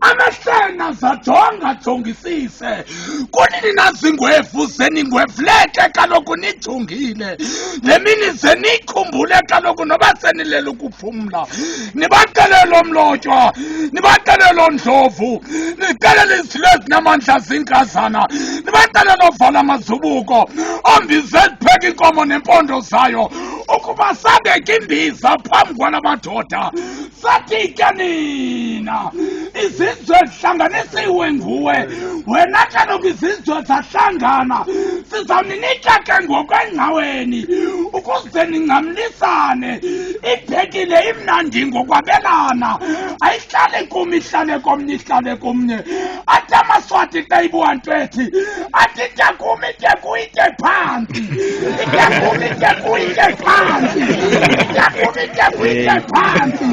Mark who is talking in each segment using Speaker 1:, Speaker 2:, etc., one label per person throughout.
Speaker 1: amahlena zajonga jongisise kunini nazingwevu zeningwevuleke kaloku nijongile le mini zenikhumbule kaloku noba senilela ukuphumla nibaxelele omlotywa nibaxelele ondlovu nixelele izilo ezinamandla zinkazana nibaxelele ovala amazubuko ombize zipheka inkomo nempondo zayo ukuba sabeke imbiza phambi kwala madoda Fatika nina izizwe zihlanganisiwe nguwe wena kaloku izizwe zahlangana sizawuninika ke ngokwengcaweni ukuze ningcamlisane ibhekile imnandi ngokwabelana ayihlale kum ihlale komnye ihlale komnye athi amaswati xa ibuwa nto ethi athi ityakumi ityakumi itye phantsi ityakumi ityakumi itye phantsi ityakumi ityakumi itye phantsi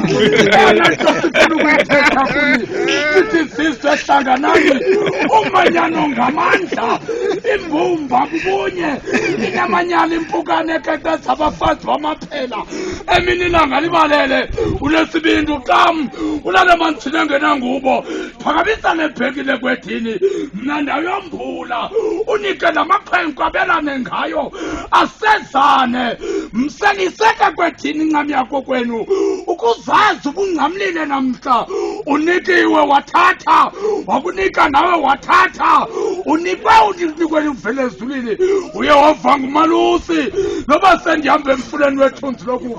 Speaker 1: eyona nto sifuna ukuyithetha kuni sithi sizwe hlanganani umanyano ngamandla imbumba kubunye inamanyala impukane eqeqeza abafazi bamaphela emini ilanga libalele unesibindi uxam unale mantsini engenangubo phakamisa nebhekile kwedini mna ndayombula unike namakhwenkwe abelane ngayo asezane mseniseke kwedini incam yakho kwenu ukuzazi ubungcamlile namhla unikiwe wathatha wakunika nawe wathatha unikwe unikwe uvele ezulwini uyehova ngumalusi noba sendihambe emfuleni wethunzi loku